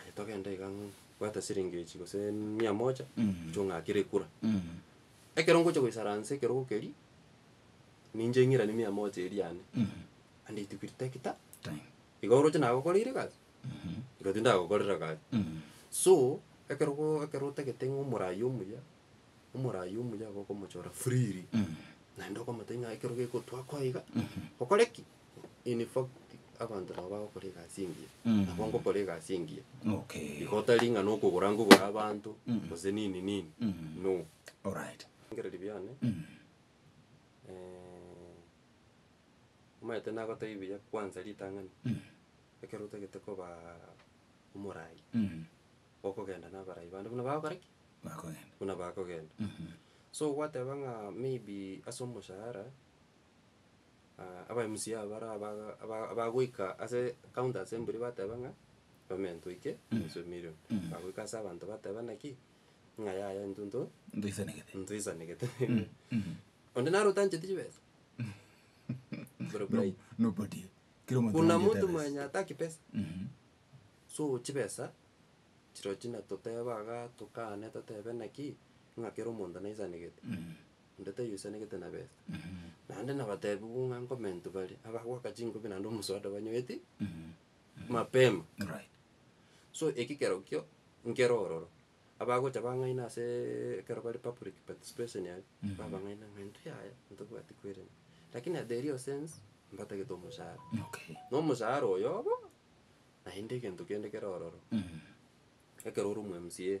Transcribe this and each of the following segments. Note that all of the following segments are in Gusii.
Aye togende iga ng'o, bwata siringi echi gose mia moja, gocha ong'akere ekura. Ekero ngocha goisaransa ekerogo keria, ninche ng'iranie mia moja eria yane, and it will take ta- Time. iga oroche nagokoreire egasi, iga tindagokorera egasi. So, ekerogoo ekero otagete ng'a omorai omuya, omorai omuya iga okomochora freely, naende okomotebi ng'a ekero gegotoa koiga, okore ki? In fact, abanto nabo bagokora egasi engiya, Mm. nabo ngokora egasi engiya. Okay. Igo tari ng'a nokogora ngogora abanto, Mm. gose nini nini, Mm. no. Alright. Ebirengererio biane, Mm. eh, omanyete nagotebia buya kwanza ritang'ani, Mm. ekero otagete koba omorai, Mm. okogenda na abarai bande buna bagokora ki? Bakogenda. Buna bakogenda. Mhm. So gwateba ng'a maybe ase omoshahara. aba MC aba bare abaga aba- abagoika ase counter ase mbori bateba ng'a payment oike nonsi emillion. Bagoika ase abanto bateba naki, ng'a yaya intwe nto Ntoisanegete. ntoisanegete. Onde naro otancheti chibesa. Boro bribe. Nobody. Kera omonto Kuna nabwate mtu ebesa. mwenye ataki pesa. Mhm. So chibesa, chirochio natoteba igaa tokane totebe naki, ng'a kera omonto naisanegete. Onde taiyoisanegete na besa. Naende nabatebigwa ng'a nkomentu bare abagoaka chinkobi naende omosoda banyoeti mapema. Alright. So eki kerokio nkere ororo, abagocha bang'aina aseeee ekero bare public participation aria, babang'aina ng'a intwe yaya ntobwati koirania. Lakini at the real sense, mbatagete omoshahara. Okay. Na omoshahara oyobo, naende egento kende kere ororo, ekero ore omo mca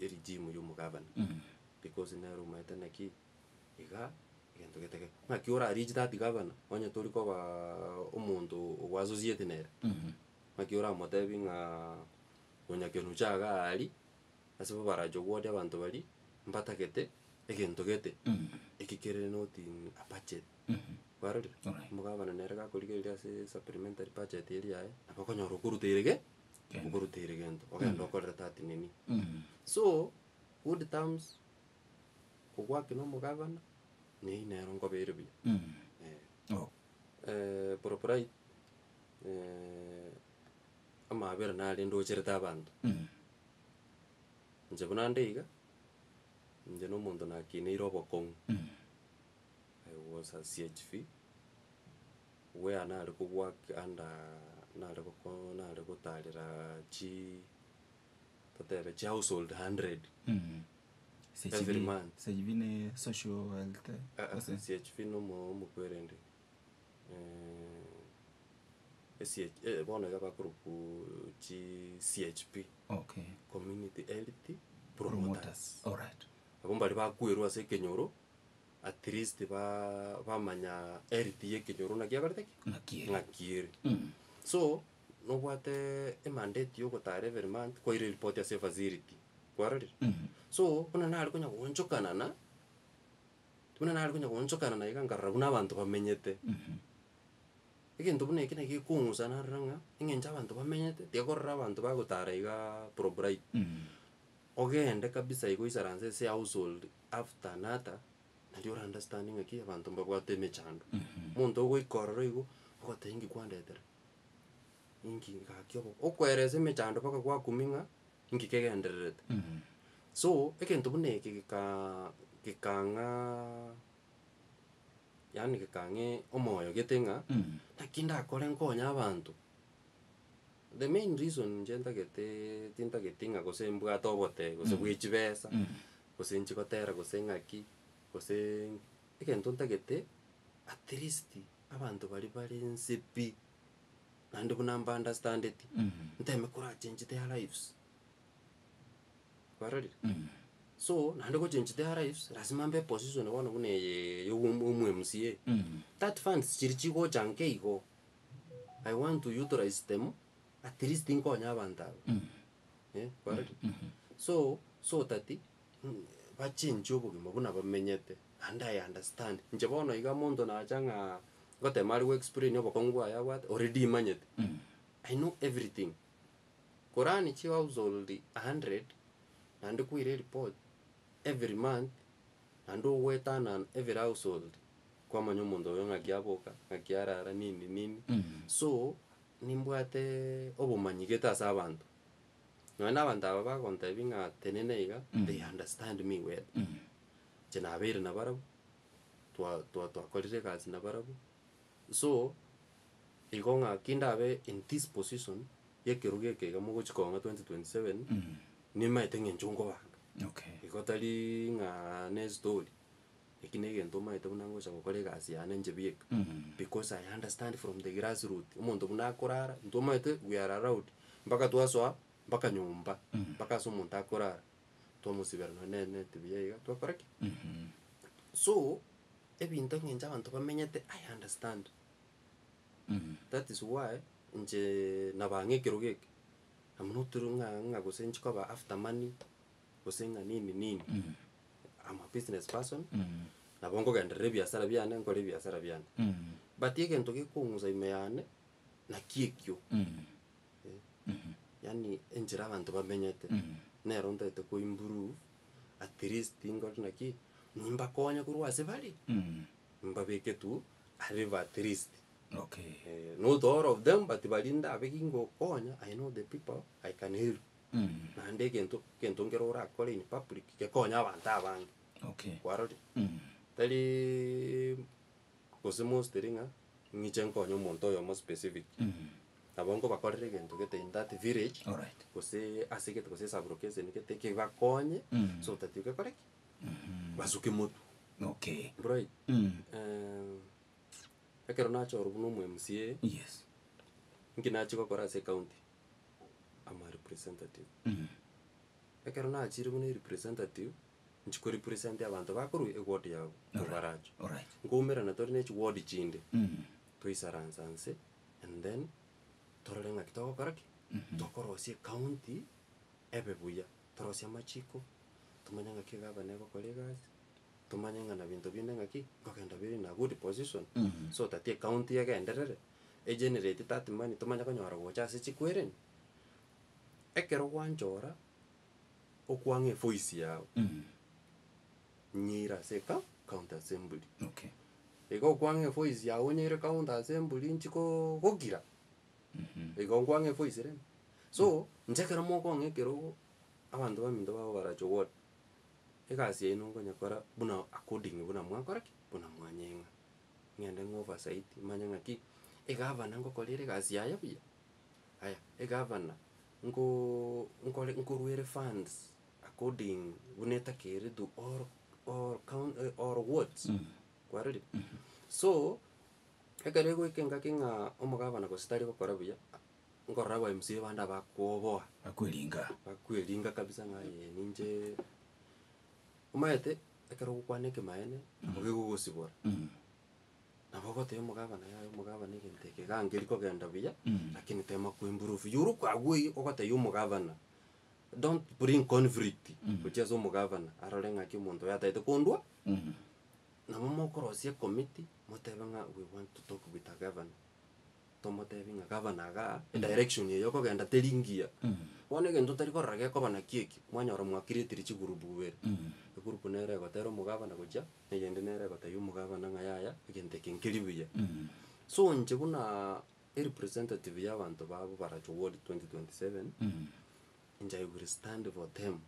ye regime y'omogabana, because nere omaete naki iga egento getagete. Naki ora reach that gabana, onye tori kobaa omonto ogwa associate nere, naki oramotebi ng'aa onyakerwa ocha iga aa aria, ase bo barache obwate abanto baria, mbatagete egento gete, eki kere not in a budget, kwarorire? Alright. Omogabana nere gakorigereria ase supplementary budget eria yaye, nabo okonyora okoruteire ge. Nkoruteire gento, ogenda okorere tati nini. So, good terms, kogwaki na omogabana, neyio nero nkobeire buya. Eh. Eh, proprite, amaabera nare ndocherete abanto. Inche buna nde iga, inche na omonto nakineire obokong'u. I was a CHV. Obweaa nare kobwaki anda nare goko nare gotarera chi totebe chi household hundred every month. Sechibi ne social health Aa ase? esiechibi na omo- omokwerende esie bono iga bakorokwa chi CHP, Okay. community health promoters. Promoters. Alright. Abwo mbaria bakwerwa ase ekenyoro. at least ba bamanya health ya ekenyoro ng'a kiakorete ki? Ng'aki ere. ng'aki ere. Mm. So, nobwate emandate ya ogotara every month kwaire report ase efacility, kwarorire? Mm. So, buna nare konya goonchokana na, buna nare konya goonchokana na iga nkarora buna abanto bamenyete. Mhm. Egento buna ekio naki gekong'usa narora ng'a, eng'encho abanto bamenyete, tiga korora abanto bagotara igaa probright. Mm. Ogende kabisa igo isaranse ase household after another, nario ora understand ng'aki abanto mbabwate emechando. Omonto ogoika ororo igo, ogoteba inki kwandetera, inki gaki obo okoeresa emechando mpaka gwakumia ng'a inki kegendererete. So, egento buna eke gekaa gekang'aa yaani gekang'aa omoyo gete ng'a naki ndakore nkonye abanto. The main reason inche ntagete tintageti ng'a gose mbwate obotebe gose bwe chibesa, gose inche gotera gose ng'aki, goseee egento ntagete at least abanto baria bare nse pi, naende buna mba understandeti, nteme kora change their lives, kwarorire? So naende go change their lives lasima mbe epositioni bono buna eye ya omwa omwa mca, that funds chiri chigocha nka igo, I want to utilize them, at least nkonye abanto aba. Eh, kwarorire? So, so that, mm, bachenchie obogima buna bamenyete, and I understand. Inche bono iga omonto nacha ng'a ngotema are goexplain obokong'u bwaye abwate, already imanyete. I know everything. Korani chihousehold a hundred, naende kwaire ereport, every month, Naende ogwetana every household kwamanya omonto oyo ng'aki aboka, ng'aki arara nini nini. So nimbwate obomanyi gete ase abanto. Nonya na abanto aba bagontebia ng'a tenena iga, they understand me well. Inche nabeire nabarabwo, twa twa twakorire egasi nabarabwo. So, igo ng'aki ndabe in this position y'ekerogo eke iga mogochia kong'a 2027, nimaete ng'encho nkobanga. Okay. Igo tari ng'a ne story, eki na egento maete buna ngocha gokora egasi yane inche bieka. Because I understand from the grass root, omonto buna akorara, intwe omanyete we are allowed, mpaka twasoa mpaka nyomba, mpaka ase omonto akorara. twamosibera nonya ne- net buya iga, twakora ki? So, ebinto eng'encho abanto bamenyete, I understand. That is why inche nabaa ng'a ekerogo eke, I'm not ru- ng'a- ng'a gose inche koba after money, gose ng'a nini nini, I'm a business person, nabo nkogenderera ebiasara biane, nkore ebiasara biane. But egento gekong'usa ime yane, naki ekio. Eh, yaani enchera abanto bamenyete, nero ntaete koimprove, at least nkore naki, nimbakonye korwa ase bare, nimbabeke tu a level at least. Okay. Eh, not all of them but baria ndabeke ngokonya, I know the people I can help. Naende egento egento nkere orakore in public gekonye abanto abange, Okay. kwarorire? Tari Gose mostly ng'a ng'iche nkonye omonto oyomo specific. Nabo nkobakorera egento gete in that village, Alright. gose ase egete gose sub location gete kebakonye Mm. so that gekore ki? Basuke motwe. Okay. Right? Mm. Eh, ekero nachorwa buna omo MCA, Yes. inki nachia gokora ase ecounty? Am a representative. Mm. Ekero nachire buna erepresentative, nchi ko represent abanto bakorwa eward yabo nigo barache. Alright. Nkoumerana tore ne chiward chinde, Mm. toisaransa nse and then torore ng'aki togokora ki? Tokorosia ecounty ebe buya. Torosie amachiko, tomanye ng'aki egavana egokora egasi, tomanye ng'a na binto binde ng'aki nkogenda biri in a good position Mhm. so that ecounty egenderere, egenerate that money tomanye konyora gocha ase chikwereni. Ekero gwanchora okwang'a efoisi yao Mm. nyeire ase eka county assembly. Okay. Iga okwang'a efoisi yao onyeire county assembly nchi koo gokira, Mhm. igo nkwang'a efoisi rende. So, inche ekero mokong'a ekerogo, abanto baminto babo barache obore, egasi yaino nkonyekora buna according buna mwakora ki? Buna mwanyeng'a. Ng'ende ng'a oversight manye ng'aki, egavana ngokorere egasi yaye buya? Aya, egavana Nko, nkore, nkoruere funds according buna etakeire to all, all coun, eh, all wards, kwarorire? So, ekero egoika engaki ng'a omogabana gose tari gokora buya, nkorora aba mca bande abakoboa, Bakweringa. bakweringa kabisa ng'a aye ninche, omanyete ekero ogokwana ekemanyeene, nabo kegogosibora. Nabo ogotebia omogabana, Yaya omogabana egento eke gangeri kogenda buya, lakini tema ko improve. Iyore okwagwei ogotebia omogabana, don't bring conflict gochia ase omogabana arore ng'aki omonto oyo atagete kondwa, nabo mokorosia ecommiti motebe ng'a we want to talk with our governor, tomotebia ng'a gavana igaa, edirection eye okogenda teri ngiya. Bono egento otari korora gekoba nakio ekio, mwanyora mwa creatire chigroup bweere, egroup nere egotera omogabana gochia. Eyende nere egotebia omogabana ng'a yaya, egento eke nkeri buya. So inche buna erepresentative y'abanto babo barache ward 2027, inche I will stand for them.